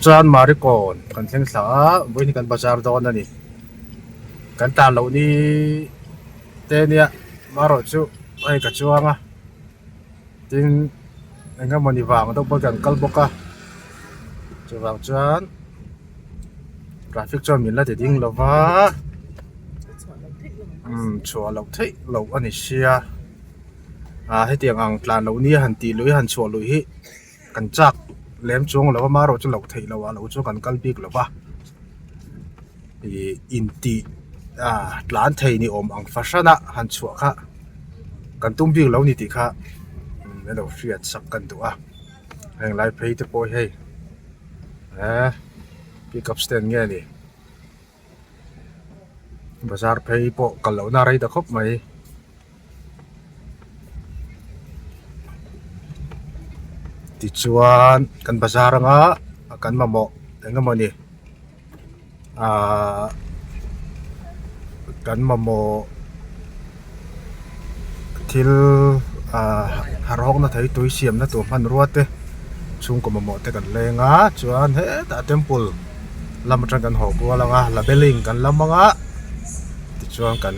Chuan Marikawn kan thleng thla a, vawiin hi kan bazar dawn a ni. Kan tan loh ni te nia marawh chu hei ka chuang a, tin eng emaw ni vang deuh pawh kan kal bawk a. Chuvang chuan traffic chuan min la ti ding lo va, umm chhuah loh theih loh a ni sia. ah hetiang ang tlan loh nia han tih luih a han chhuah luih hi kan chak lem chuang a lo a marawh chu loh theih loh ah loh chu kan kal bik lo va ihh intih ah tlan thei ni awm ang fahran a han chhuah kha kan tum bik lo ni tih kha i lo hriat sak ka ni duh a heng lai phei te pawh hei eee pick up stand nge ni. bazar phei pawh kal lohna a rei ta khawp mai. Tichuan kan bazar anga kan mamawh eng emaw ni aahh kan mamawh-- thil ah harawkna thei tui siamna tur hmanrua te chhungkaw mamawh te kan leng a chuan hetah temple lam atang kan haw kual anga la beling kan la mang a tichuan kan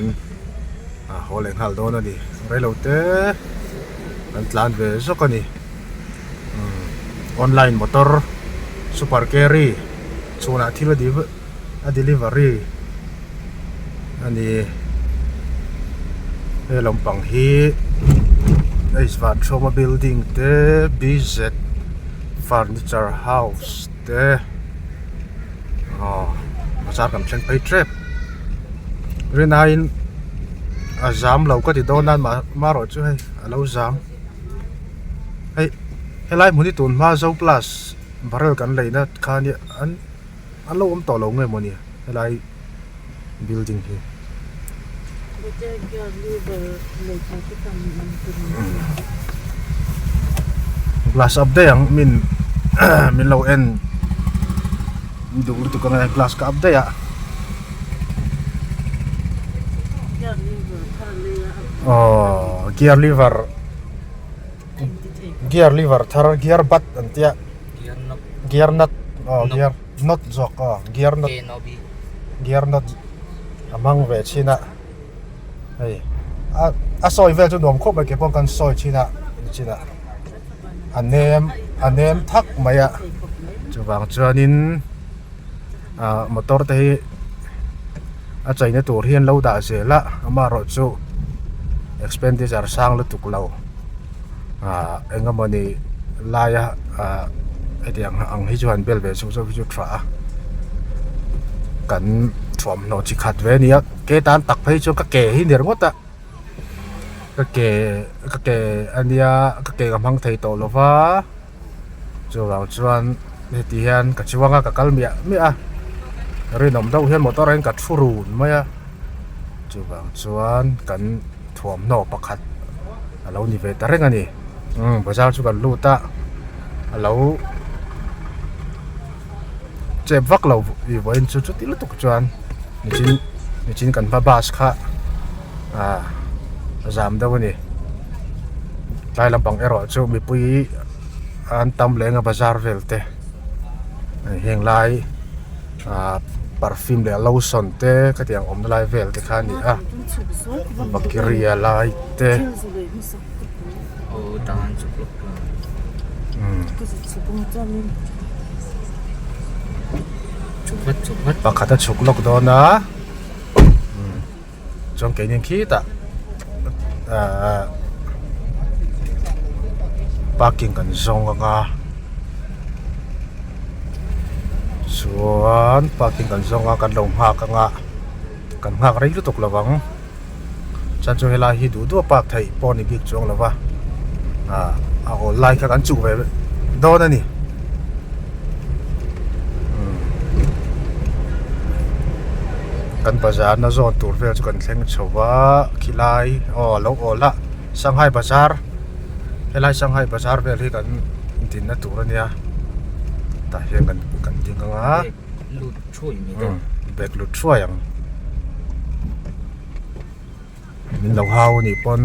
ah haw leh nghal dawn a ni relo te an tlan ve zawk a ni umm online motor super carry chhunah thil a dihh-- a delivery a ni he lampang hi H Vathawma building te BZ furniture house te aw bazar kan thleng phei tep Rinnai in a zam lo ka ti dawn a mah erawh chu hei a lo zam hei helai hmun hi tun hma Zoplus barrel kan laihna khan hi an-- An lo awm tawh lo nge maw ni helai building hi. Glass ap daih ang min min lo en duh lutuk ang e glass ka ap daih a aww gear lever. gear liver thar gear butt an tia gear nut aw gear nut zawk aw gear nut gear nut a hmang ve chin a hei a a sawi vel chu nuam khawp mai kei pawh kan sawi chin a ni chin a a nem a nem thak mai a chuvang chuanin. ah motor te hi a chei na tur hian lo dah zel a ama erawh chu expenditure sang lutuk lo ah eng emawni laia ah hetiang ang hi chu han bel ve suh zauh hi chu a tha a kan thuamhnaw chi khat ve a nia ke tan tak phei chu ka ke hi ni ringawt a ka ke ka ke a nia ka ke ka hmang thei tawh lova. chuvang chuan heti hian ka chuang a ka kal miah miah a ka rinawm deuh hian motor ah hian ka thu run mai a chuvang chuan kan thuamhnaw pakhat a lo ni ve ta reng a ni umm bazaar chu kan lut a a lo-- chep vak lo ih vawiin chu chuti lutuk chuan mihring mihring kan hma bus kha ah a zam deuh a ni tlai lampang erawh chu mipui an tam leh ang a bazar vel te hei heng lai ah perfume leh lotion te khatiang awmna lai vel te kha a ni a bakiri a lai te-- pakhat a chhuk lawk dawn a chuan keini ang khitah aaa parking kan zawng ang a chuan parking kan zawng a kan lo nghak ang a kan nghak rei lutuk lo ang. chuan chu helai hi duh duah bak theih pawh a ni bik chuang lova ahh a awl lai kha kan chuh ve dawn a ni kan bazar na zawn tur vel chu kan thleng chho va khi lai aw a lo awl a sanghai bazar helai sanghai bazar vel hi kan dinna tur a nia tah hian kan ding anga. lut thuai ni ka bag lut thuai ang min lo hau ni pon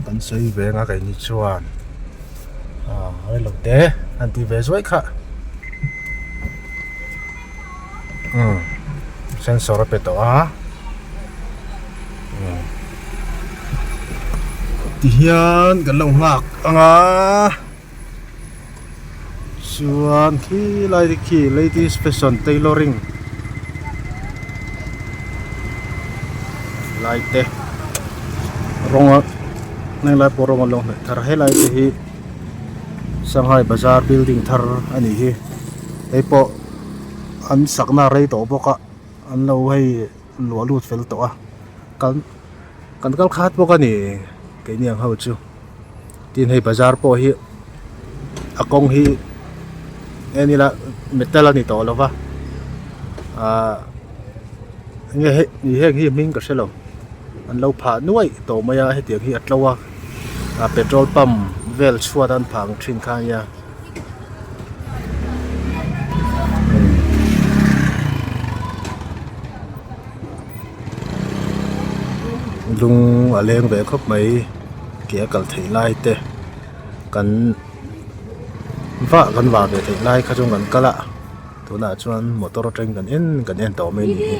kan sawi ve nga kai ni chuan a hoi lo te han ti ve zuai kha um sensor a pe tawh a um ti hian kan lo nghak ang a. chuan khilai te khi ladies fashion tailoring lai te rawnga hmanlai pawh rawng an lo hnawih thar helai te hi shanghai bazar building thar a nih hi kei pawh an sakna a rei tawh bawk a an lo hei-- Luah lut fel tawh a, kan kan kal khat bawk a ni kei niang ho chu, tin hei bazar pawh hi a kawng hi en ila metal a ni tawh lova ah enge hei nih heng hi hming ka hre lo an lo phah nuaih tawh mai a hetiang hi a tlo a petrol pump vel chhuat a an phah ang thin khan nia. lung a leng ve khawp mai ke a kal theih lai te kan va kan va ve theih lai kha chu kan kal a tunah chuan motor atang kan en kan en tawh mai ni hi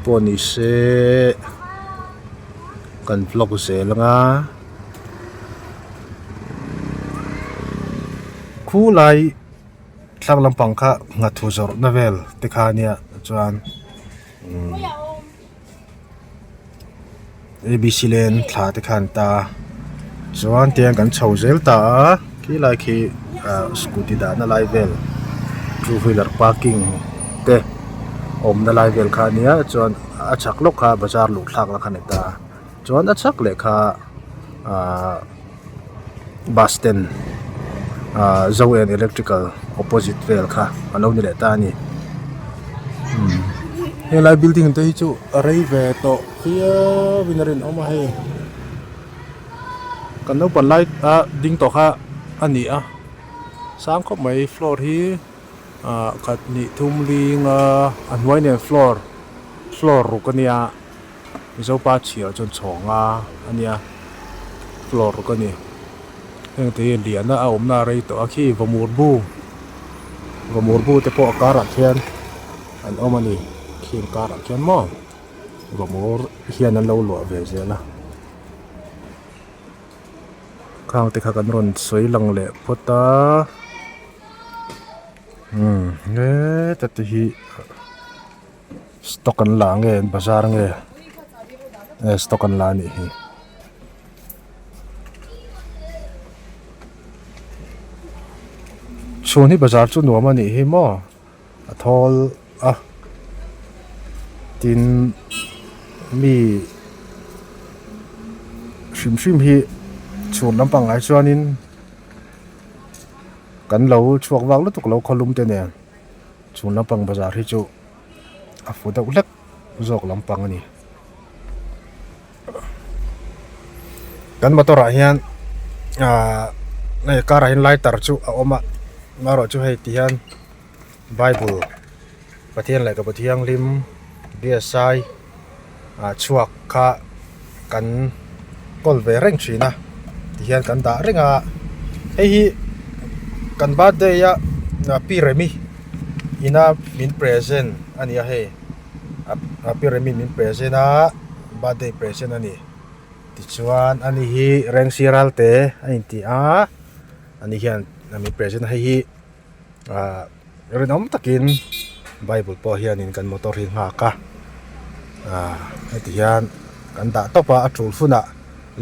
pawh ni se kan vlog zel anga. Khu lai tlang lampang kha nghathu zawrhna vel te khania chuan umm abc lane thla te kha an ta a chuan tiang kan chho zel ta a khi lai khi ah scooty dahna lai vel two wheeler parking te awmna lai vel khania chuan a chak lawk kha bazar luh thlak la kha ni ta a. Chuan a chhak leh kha ahh bus stand ahh zo and electrical opposite vel kha a lo ni leh ta a ni umm helai building te hi chu a rei ve tawh viau in a rinawm a hei kan naupang lai a ding tawh kha a ni a sang khawp mai floor hi ahh khat hnih thum linga a hnuai nen floor floor ruk a nia. Mizopa chhiah chuan chhawk nga a nia floor ka ni hengte hi liana a awmna a rei tawh a khi vawmurbu vawmurbu te pawh a karah khian an awm a ni khi an karah khian maw vawmur hian an lo luah ve zel a khang te kha kan rawn sawi lang leh phawt a umm he tati hi. Stock kan la nge bazar nge nge stock kan la a nih hi chhun hi bazar chu nuam a nih hi maw a thawl a tin mi hrim hrim hi chhun lam pang ah chuan in kan lo chhuak vak lutuk lo khaw lum te nen. Chung lampang bazar hi chu a fu deuh hlek zawk lampang a ni. Kan motor ah hian ah hei car ah hian lighter chu a awm a maherawh chu hei ti hian bible pathian leh ka bu thianghlim B S I -- chhuak kha kan call ve reng thin a ti hian kan dah reng a hei hi kan birthday a pi remi ina min present a ni a hei a pi remi min present a birthday present a ni tichuan ani hi reng sira te a inti a ani hian min present hei hi. ah rinawm takin bible pawh hianin kan motor hi nghak a ah heti hian kan dah tawp a a tul hunah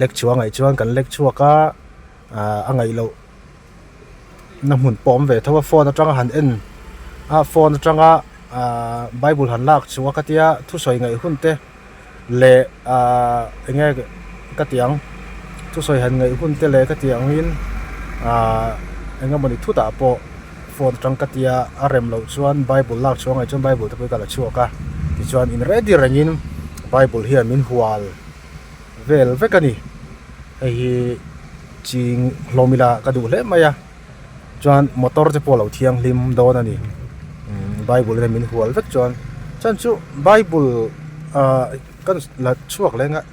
lek chhuah a ngaih chuan kan lek chhuak a ah a ngaih loh na hmun pawh a awm ve tho a phone atanga han en a phone atanga ah bible han lak chu a ka tia thusawi ngaih hun te. leh ahh enge ka tih ang thusawi han ngaih hun te leh ka tih ang in ahh engemawni thutah pawh phone atang ka tia a rem loh chuan bible lak chhuak ngaih chuan bible te pawh i ka la chhuak a tichuan in ready rengin bible hian min hual vel vek a ni hei hi ching hlawm ila ka duh hlek mai a. chuan motor te pawh a lo thianghlim dawn a ni bible lem in hual vek chuan chhan chu bible ah ka la chhuak leh ngah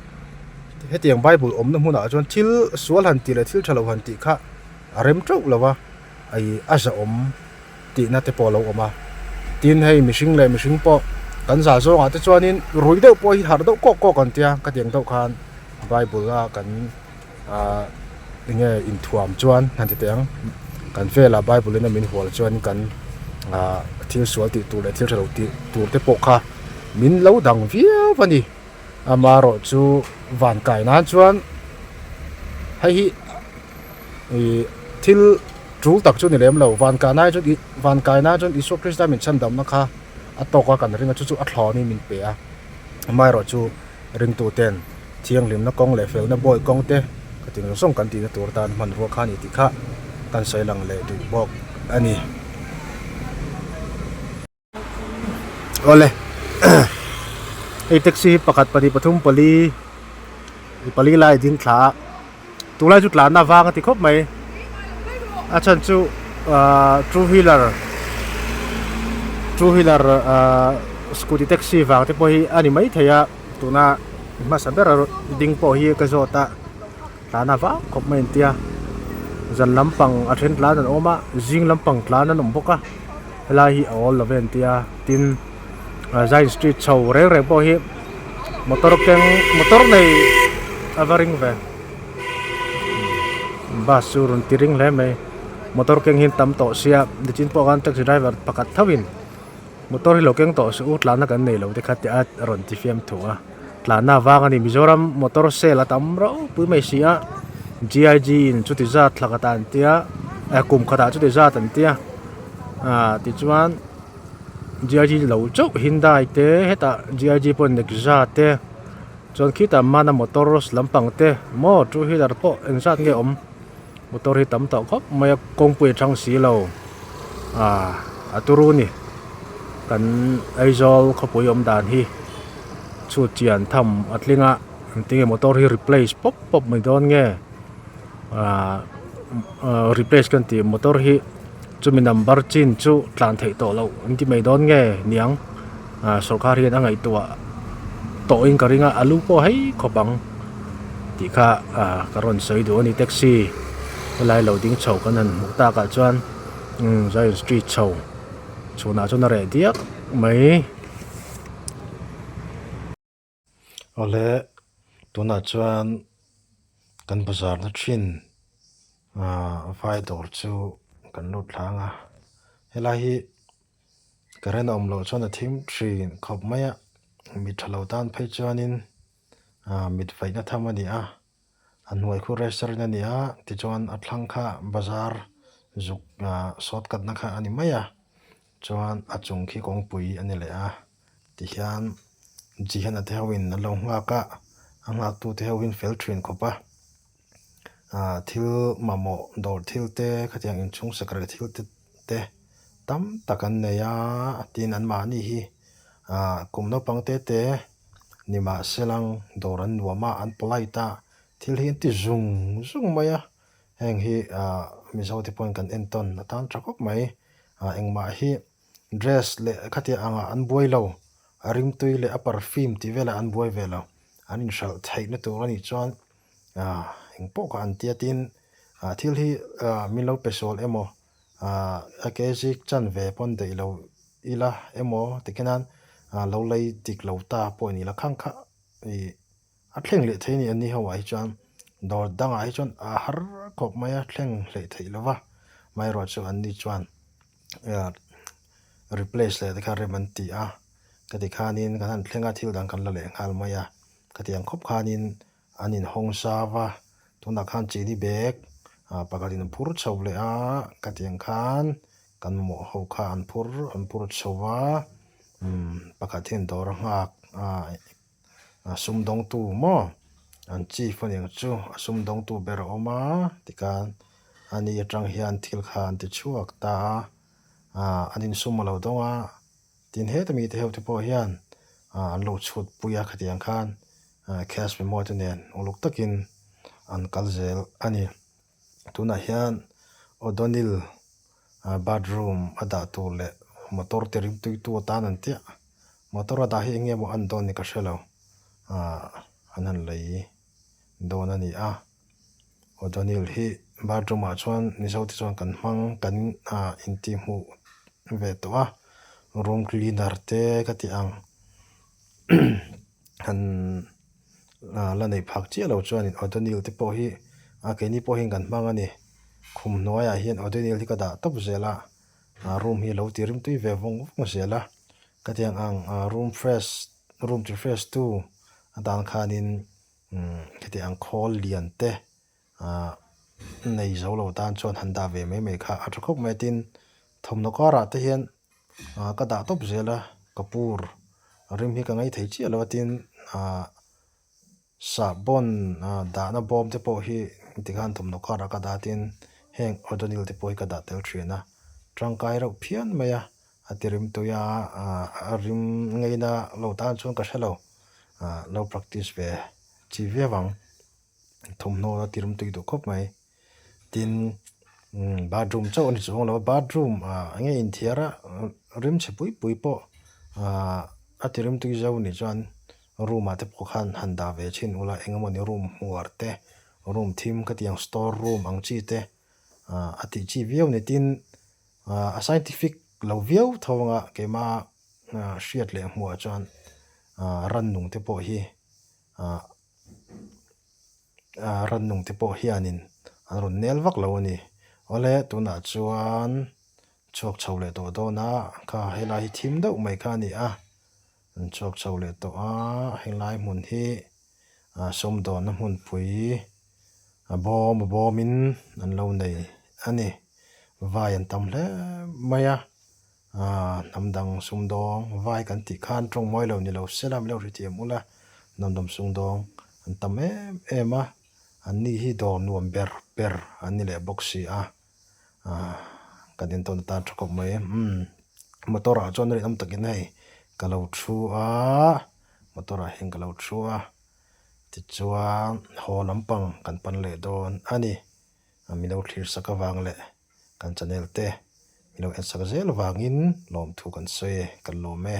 hetiang bible awmna hmunah chuan thil sual han tih leh thil tha lo han tih kha a rem teuh lo va ai a zahawm tihna te pawh a lo awm a tin hei mihring leh mihring pawh kan zah zawngah te chuanin rui deuh pawh hi harh deuh kawk kawk an tia ka tiang deuh khan bible a kan-- Ahh enge inthuam chuan han ti teh ang, kan velah Bible-in a min hual chuan kan ah thil sual tih tur leh thil hre lo tih tur te pawh kha min lo dang viau a ni. Amaherawh chu van kai nan chuan hei hi ihh thil tul tak chu ni lem lo, van kai nan chuan van kai nan chuan Isua Krista min chhan damna kha a tawka kan ring a, chu chu a thlawin min pe a, amaherawh chu ringtuten Thianghlimna kawng leh felna bawi kawng te ka ti nung sawng kan tihna tur tan hmanrua kha a ni tih kha kan sawi lang leh duh bawk a ni. Awle hei taxi hi pakhat pahnih pathum pali i pali lai ding thlaah. Tunglai chu tlanna vang a ti khawp mai. A chhan chu two wheeler two wheeler scooty taxi vang te pawh hi a ni mai thei a. Tuna i hmasa bera ding pawh hi ka zawt a tlanna vang khawp mai an ti a. Zan lampang a then tlan an awm a, zing lampang tlan an awm bawk a. Helai hi a awl lo ve an ti a tin. zain street chho reng reng pawh hi motor keng motor nei a va ring ve bus chu a rawn ti ring hle mai motor keng hi an tam tawh sia nitin pawh khan taxi driver pakhat tho in motor hi lo keng tawh se u tlanna kan nei lo te kha tia a rawn ti fiam thu a tlanna a vang a ni mizoram motor sale a tam ropui mai si a G I G in chuti zat thlaka ta an tia eh kum khatah chuti zat an tia ahh tichuan-- GIG lo chauh Hyundai te hetah GIG pawh Nexa te chuan khitah Mana Motors lampang te maw two wheeler pawh eng zat nge awm motor hi tam tawh khawp mai a kawngpui a chang si lo ah a turu ni kan Aizawl khawpui awm dan hi chhut chian tham a tling a engtin nge motor hi replace pawp pawp mai dawn nge. Ahh replace kan tih motor hi chumi number chin chu tlan theih tawh loh an ti mai dawn nge niang ahh sorkar hian a ngaihtuah tawh in ka ring a a lu pawh hai khawp ang tih kha ahh ka rawn sawi duh a ni taxi helai lo ding chho kan han hmuh tak ah chuan umm zion street chho chhunah chuan a reh diak mai. Awle, tunah chuan kan bazarna thin vai dawr chu kan lut thlâng a. Helai hi current a awm loh chuan a thim thin khawp mai a. Mit tha lo tan phei chuanin mit vaihna tham a ni a. A hnuai khu register in a ni a, tichuan a thlang kha bazar zuk sawt katna kha a ni mai a, chuan a chung khi kawngpui a ni leh a ti hian Jihana te ho in an lo nghak a, a nghak tu te ho in fel thin khawp a, thil mamawh dawr thil te khatiang in chhung sakre thil te te tam tak an nei a, tin an mahni hi kum naupang te te. Nimahselang dawr an nuam a, an polite a, thil hi an ti zung zung mai a, heng hi Mizo te pawhin kan entawn a tan tha khawp mai. Engmah hi dress leh khatiang ang ah an buai lo, a ringtui leh a perfume tih vel ah an buai ve lo. An inhralh theih na tur a nih chuan engpawh kha an tia tin thil hi min lo pe sawl em aw. a ke zik chan ve pawn daih lo ila emaw tikhi nan lo lei dik lo ta pawh a nila khang kha i a thleng leh thei a ni a ni ho ah hi chuan dawr dang ah hi chuan a har khawp mai a thleng hleh theih lo va hmai erawh chu an ni chuan replace leh te kha rem an ti a ka ti khan in kan han thleng a thil dang kan la leh nghal mai a ka ti ang khawp khan in. An in hawng sa va, tunah khan chili bag pakhat in phur chho leh a, khatiang khan kan mamawh ho kha an phur an phur chho va, umm pakhat hian dawr a nghak a sum dawng tu maw an chief anih chu a sum dawng tu ber a awm a tikhan ani atang hian thil kha an ti chhuak ta a an in sum a lo dawng a. Tin, heta mite ho te pawh hian an lo chhut pui a khatiang khan Cash Memo te nen uluk takin an kal zel a ni. Tunah hian O'Donnell bathroom a dah tur leh motor te ringtui tu atan an tiah. Motor a dah hi enge maw a ni dawn ni ka hrelo, an han lei dawn a ni a. O'Donnell hi bar room ah chuan Mizote chuan kan hmang kan ah intih hmuh ve tawh a, room cleaner te ka tih ang han la neih phak chiah lo chuan in O'Donnell te pawh hi a keini pawh hian kan hmang a ni, khum hnuai ah hian O'Donnell hi ka dah tawp zel a, ah room hi lo tih rim tui ve vawng vawng zel a, ka tih ang ang room fresh room chi fresh tu a dan khan in. Hetiang ang khawl lian te nei zo lo tan chuan han dah ve mai mai kha a tha khawp mai a tin thawmhnaw karah te hian ka dah tawp zel a ka pu rim hi ka ngei thei chiah lo a tin sahbawn dahna bawm te pawh hi tikhan thawmhnaw karah ka dah a tin heng odonil te pawh hi ka dah tel thin a tangkai reuh phian mai a. A ti rim tui a, a rim ngei na lo tan chuan ka hre lo, lo practice ve chi viau vang, thawmhnaw a ti rim tui duh khawp mai. Tin, bathroom chauh a ni chu awng lo a, bathroom enge in thiar a, rim chhe pui pui pawh a ti rim tui zo nih chuan room ah te pawh khan han dah ve thin ula, eng emaw ni room hmuar te, room thim khatiang store room ang chi te, a tih chi viau ni tin a scientific lo viau tho anga keima hriat leh hmuh ah chuan rannung te pawh hi rannung te pawh hian in an rawn nel vak lo a ni awle tunah chuan chhuak chho leh tawh dawn a kha helai hi thim deuh mai kha a ni a. An chhuak chho leh tawh a, helai hmun hi sawmdawnna hmunpui a bawm bawmin an lo nei a ni. Vai an tam hle mai a, hnam dang sumdawng vai kan tih khan tawngmawii lo ni lo se la, milo hrethiam ula hnam dang sumdawng an tam em em a, an ni hi dawr nuam ber ber an ni leh bawk si a. Kan intawn atan tha khawp mai umm motor ah chuan rinawm takin hei ka lo thu a motor ah hian ka lo thu a tichuan haw lampang kan pan leh dawn a ni mi lo thlir sak avang leh kan chanel te mi lo en sak zel avangin lawmthu kan sawi e kan lawm e.